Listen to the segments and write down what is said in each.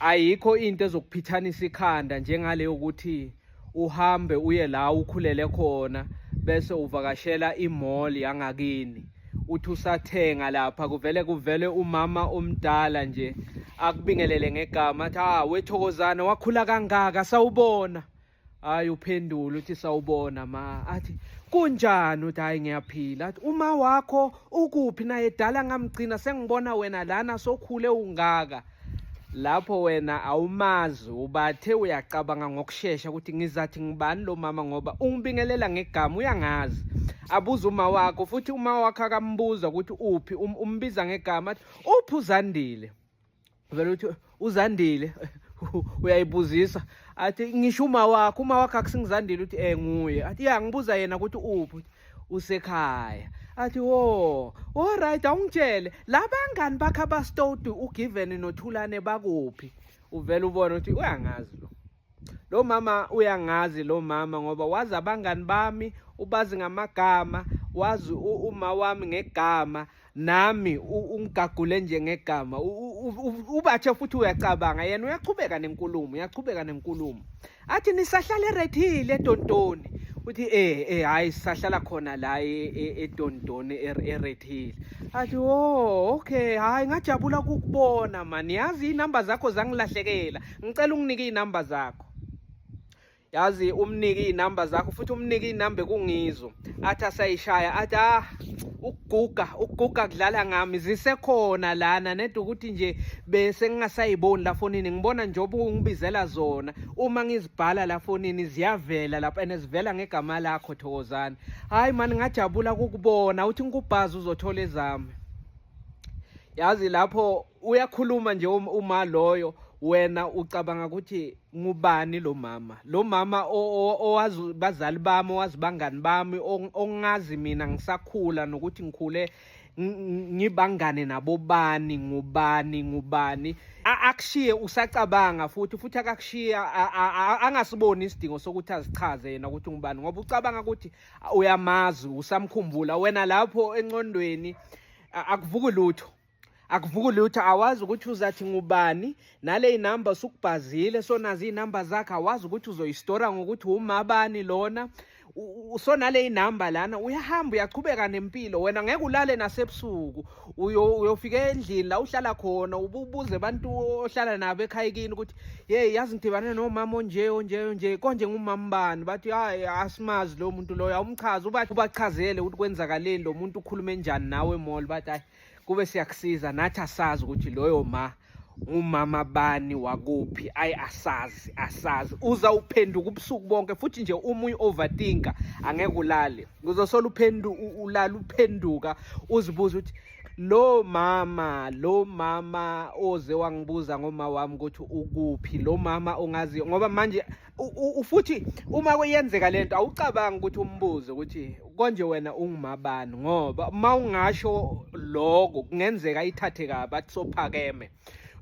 ayikho into ezokuphithanisa ikhanda njengale yokuthi uhambe uye la ukhulele khona bese uvakashela imall yangakini uthi usathenga lapha kuvele kuvele umama omdala nje akubingelele ngegama athi ah wethokozana wakhula kangaka sawubona hayi uphendula uthi sawubona ma athi kunjani uthi hayi ngiyaphila athi uma wakho ukuphi naye dala ngamgcina sengibona wena lana sokhule ungaka lapho wena awumazi ubathe uyacabanga ngokushesha ukuthi ngizathi ngibani lo mama ngoba ungibingelela ngegama uyangazi abuza uma wakho futhi uma wakho akambuza ukuthi uphi um, umbiza ngegama athi uphi uzandile vele uthi uzandile uyayibuzisa athi ngisho uma wakho uma wakho akusingizandile uthi eh nguye athi ya ngibuza yena ukuthi uphi usekhaya athi wo all right awungitshele labangani bakhe abastoti ugiven nothulane bakuphi uvele ubone ukuthi uyangazi lo lo mama uyangazi lo mama ngoba wazi abangani bami ubazi ngamagama wazi uma wami ngegama nami ungigagule nje ngegama ubathe futhi uyacabanga yena uyaqhubeka nenkulumo uyaqhubeka nenkulumo athi nisahlala erethile edontoni uthi eh eh hayi sisahlala khona la edontoni e, e, erethile athi oh okay hayi ngajabula ukukubona mani yazi inamba zakho zangilahlekela ngicela unginike izinamba zakho yazi umnike izinamba zakho futhi umnike izinamba kungizo athi asayishaya athi ah ukuguga ukuguga kudlala ngami zisekhona lana nede ukuthi nje bese ngingasayiboni la fonini ngibona njengoba ungibizela zona uma ngizibhala la fonini ziyavela lapha and zivela ngegama lakho thokozani hayi mani ngajabula kukubona uthi ngikubhazi uzothola ezami yazi lapho uyakhuluma nje um-, uma loyo wena ucabanga ukuthi ngubani lo mama lo mama owazi bazali bami owazi bangani bami ongazi mina ngisakhula nokuthi ngikhule ngibangane nabobani ngubani ngubani akushiye usacabanga futhi futhi akakushiye angasiboni isidingo sokuthi azichaze yena ukuthi ngubani ngoba ucabanga ukuthi uyamazi usamkhumbula wena lapho enqondweni akuvuki lutho akuvuki lutho awazi ukuthi uzathi ngubani nale inamba usukubhazile so nazi inamba zakhe awazi ukuthi uzoyistora ngokuthi umabani lona so nale inamba lana uyahamba uyachubeka nempilo wena ngeke ulale nasebusuku uyofika endlini la uhlala khona ububuze abantu ohlala nabo ekhaya kini ukuthi hey yazi ngidibane nomama onje onje onje konje ngumama bani bathi hayi asimazi lo muntu loyo awumchazi ubachazele ukuthi kwenzakaleni lo muntu ukhulume njani nawe mall bathi hayi kube siyakusiza nathi asazi ukuthi loyo ma umama bani wakuphi ayi asazi asazi uza uphenduka ubusuku bonke futhi nje uma uyi-overtinka angeke ulale uzosola uphendu ulala uphenduka uzibuza ukuthi lo mama lo mama oze wangibuza ngoma wami ukuthi ukuphi lo mama ongaziyo ngoba manje futhi uma kuyenzeka lento awucabanga ukuthi umbuzo ukuthi konje wena ungumabani ngoba uma ungasho lokho kungenzeka ithathe kabi athi sophakeme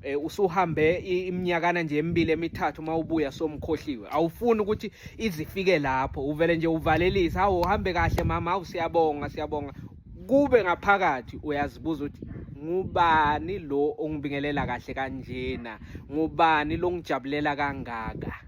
Eh, usuhambe iminyakana nje emibili emithathu uma ubuya somkhohliwe awufuni ukuthi izifike lapho uvele nje uvalelise hawu uhambe kahle mama hawu siyabonga siyabonga kube ngaphakathi uyazibuza ukuthi ngubani lo ongibingelela kahle kanjena ngubani longijabulela kangaka